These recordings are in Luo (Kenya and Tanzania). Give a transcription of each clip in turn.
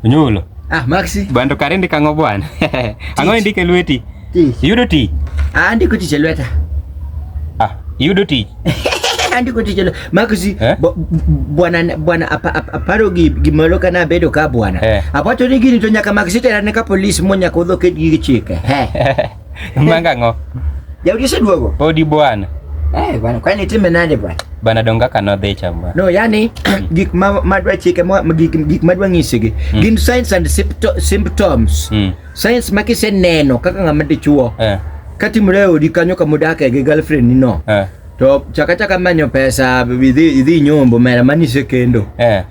Onyulo. Ah, Maxi. Bando karende kango bwana. Ango indike lweti. Tich. Yudo tich. Ah, ndiko tich e lweta. Ah, yudo tich. Andiko tich e lweta. Maxi, eh? bwana bwana aparo gi gimoro kana bedo ka bwana. Eh. Apato ni gini to nyaka Maxi tera ne ka police mo nyaka odho ked gi chike. Eh. Manga ngo. Jaudi oseduogo. Podi bwana. Eh bwana, kwani time nade bwana? Bwana donga kano dhi cha bwana. No, yani mm. gik ma madwa chike ma gik gik madwa ngisigi. Mm. Gin signs and symptoms. Mm. Signs ma kiseneno kaka ngama dichuo. Eh. Kati mreo di kanyo kama dake gi girlfriend ni no. Eh. To chaka chaka manyo pesa idhi idhi nyombo mera mani sekendo. Eh.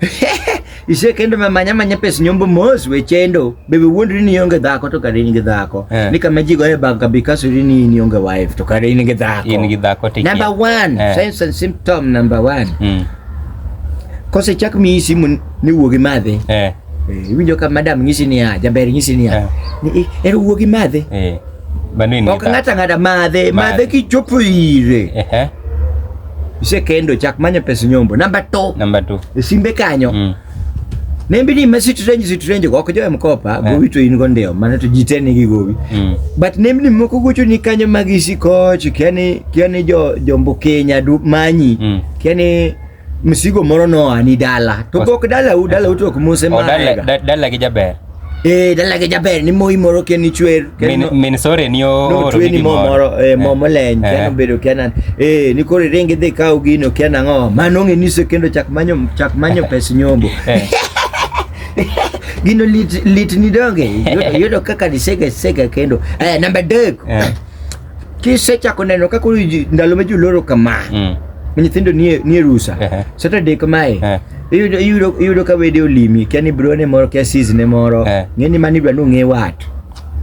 Ise kendo ma manya manya pes nyombo mos we chendo. Bebe wuondri ni ionge dhako to kare in gi dhako. Eh. Ni kama ji goye bag kabi kaso ri ni in ionge wife to kare in gi dhako. In gi dhako to Number one, eh. signs and symptom number one. Mm. Kose chak mi isi mun ni wuogi madhe. Eh. eh. Iwinjo ka madam ngisi ni ya, jaber ngisi ni ya. Eh. Ni eh, ero wuogi madhe. Eh. Manini. Ok ng'ata ng'ata madhe, madhe kichopo ire. Ehe. Isekendo chak manyo pes nyombo. Namba 2. Namba 2. E simbe kanyo. Mm. Nembi ni mesi trenji si trenji go ok jowe mkopa yeah. gowi to in go ndio mana to jitene gi gowi. Mm. But nembi ni moko gocho ni kanyo magi si koch kiani kiani jo jombo Kenya du manyi. Mm. Kiani msigo moro noa ni dala to gok dala u dala utok mose oh, ma dala dala gi jaber eh dala gi jaber ni moyi moro ken ni chwer min min sore ni o no chwer ni moro eh mo eh. moleny ken eh. obedo kenan eh ni kore renge de kaw gino ken ango mano ngi niso kendo chak manyo chak manyo pes nyombo eh. gino lit lit ni donge yudo kaka ni sega sega kendo eh namba 2 kisechako neno kaka koro ji- ndalo ma joloro kama Mm. ma nyithindo nie nie rusa Ehe. saturday kamae Eh. iyudo iyudo iyudo ka wede olimi kia ni bro ne moro kia sis ne moro Eh. ng'e ni mani dwa ni ong'e wat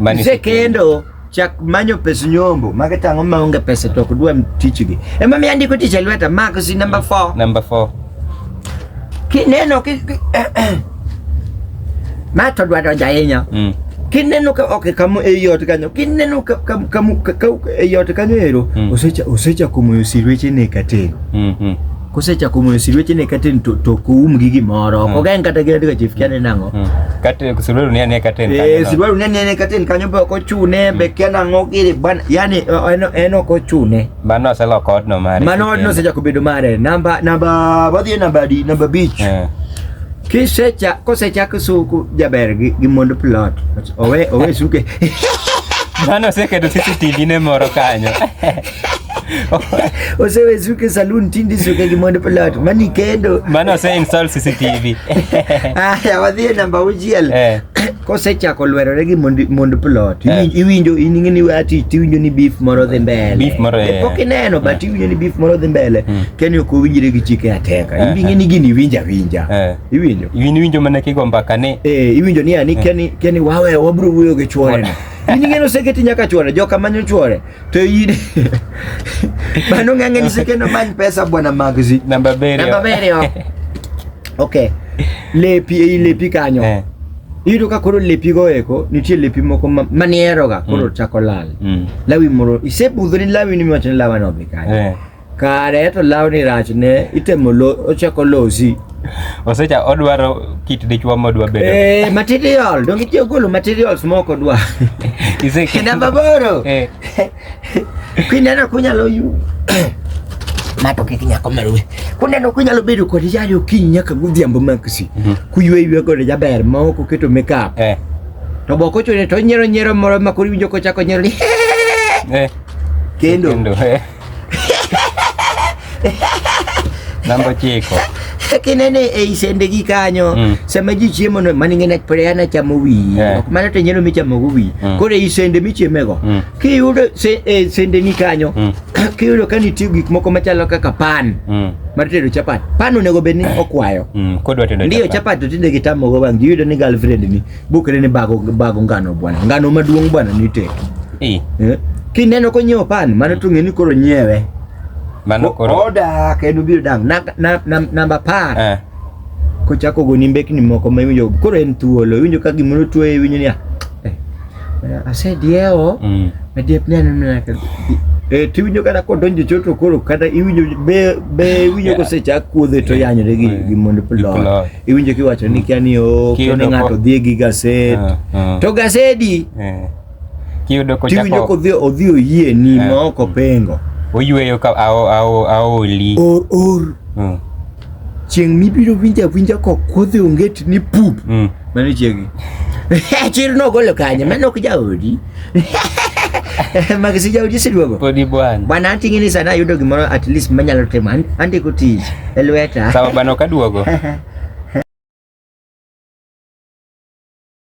Mani- mse kendo chak manyo pes nyombo mage tang'o maonge pesa to ok dwa tichgi ema mi andiko tich e lweta max number 4 Number four. kineno ki, ki, Ma to dwaro ja ahinya. Mm. Kineno ka ok kamo e yot kanyo, kineno ka ka ka ka- ka- e yot kanyo ero, Mm. osecha osecha kumoyo sirweche ne kateno. Mm. Mm. Kosecha kumoyo sirweche ne kateno to to koum gi gimoro. Ok Mm. ogen kata gi adiga chief kiane nango. Mm. Kate kusululu ni ane katen. Eh, sirwaru ne ne kateno kanyo be ok ochune be kiana ngo giri ban yani eh, en en ok ochune. Mano selo kod no mari. Mano odno osecha kubedo mare. Namba namba wadhi e namba di namba beach. Eh. Kisecha kosechak suku jaber gi, gi mond plot owe owe suke Mano oseketo CCTV ne moro kanyo. osewe suke saloon tindi suke gi mond plot mani kendo Mano ose install CCTV. aya wadhi e namba auchiel Eh. Kosechako lwerore gi mond mond plot, Eh. iwinj- iwinjo in ing'e ni weya tich tiwinjo ni beef moro dhi mbele. Beef moro, Eh, eh. Pok ineno but iwinjo ni beef moro dhi mbele. Keni ok owinjre gi chike ateka. Eh, Ibi ing'e ni gini iwinjo awinja. Eh. Iwinjo? Iwin winjo mana kigo mbaka ni Eh, iwinjo ni ani keni keni wawe wabro wuoyo gi chwore. In ing'e ni oseketi nyaka chwore, joka manyo chwore. To yine. Bano ng'ang'e ni sekeno many pesa bwana Magzi. Namba abiriyo. Namba abiriyo. Okay. Lepi ei lepi kanyo. Eh. Iyudo ka koro lepi go eko nitie lepi moko ma- manieroga koro Mm. chako lal. Mm. Lawi moro isebudho ni lawi ni miwacho ni lawa no dhi kanyo. Eh. kare to lawni rachne itemo lo, ochako losi osecha odwaro kit dichwa modwa bedo eh, material donge itiyo golo materials moko dwa Iseke- namba boro Eh, kineno kunyalo yu mato kik nyako maluwe kuneno kunyalo bedo kod yari okinyi nyaka godhiambo maksi Mhm. kuywe ywe kode jaber ma ok oketo makeup eh, to bok ochune to onyiero nyiero moro ma koro iwinjo kochako nyiero ni eh, kendo kendo, eh. Namba chiko. kinene ei sende gi kanyo mm. sama ji chiemo no mani ngene prea na chamo wiyi yeah. ok mana to nyeno michamo go wiyi mm. koro ei sende michieme go mm. kiyudo se, e, sende ni kanyo mm. kiyudo ka nitie gik moko machalo kaka pan mm. mar tedo chapat pan onego bed ni okwayo mm. kodwa tedo ndio chapat to tinde gitamo go bang' giyudo ni girlfriend ni Bukere ni bago bago ngano bwana. Ngano maduong' bwana ni tek. Eh. Eh. Kineno ko nyiewo pan mano to ng'e ni koro nyiewe. Mano koro. Oda kendo biro dang. Na, na, na, namba par. Eh. Kochako goni mbekni moko ma iwinjo koro en thuolo. Iwinjo ka gimoro tuoye iwinjo niya. Eh. Asediewo. Mm. Adiep ni aneno na ka. Eh, tiwinjo kata kodonjo choto koro kata iwinjo be be iwinjo Yeah. kosechak kuodhe to Yeah. yanyore gi Yeah. gi mond Gi plo. plo. iwinjo kiwacho ni kia ni o kia ni ng'ato dhi gi gased uh, uh. to gasedi uh. kiyudo ko tiwinjo ko dhi odhi oyie ni uh. ma oko pengo oyweyo ka ao ao aoli or or uh. chieng mibiro winja winja ko kodhi onget ni pup mm. mani chiegi chir no golo kanye mano ok jaodi makisija ujisi duogo podi bwana bwana anting'ini sana ayudo gimoro at least manyalo timo andiko tich e lweta sawa bwana ok aduogo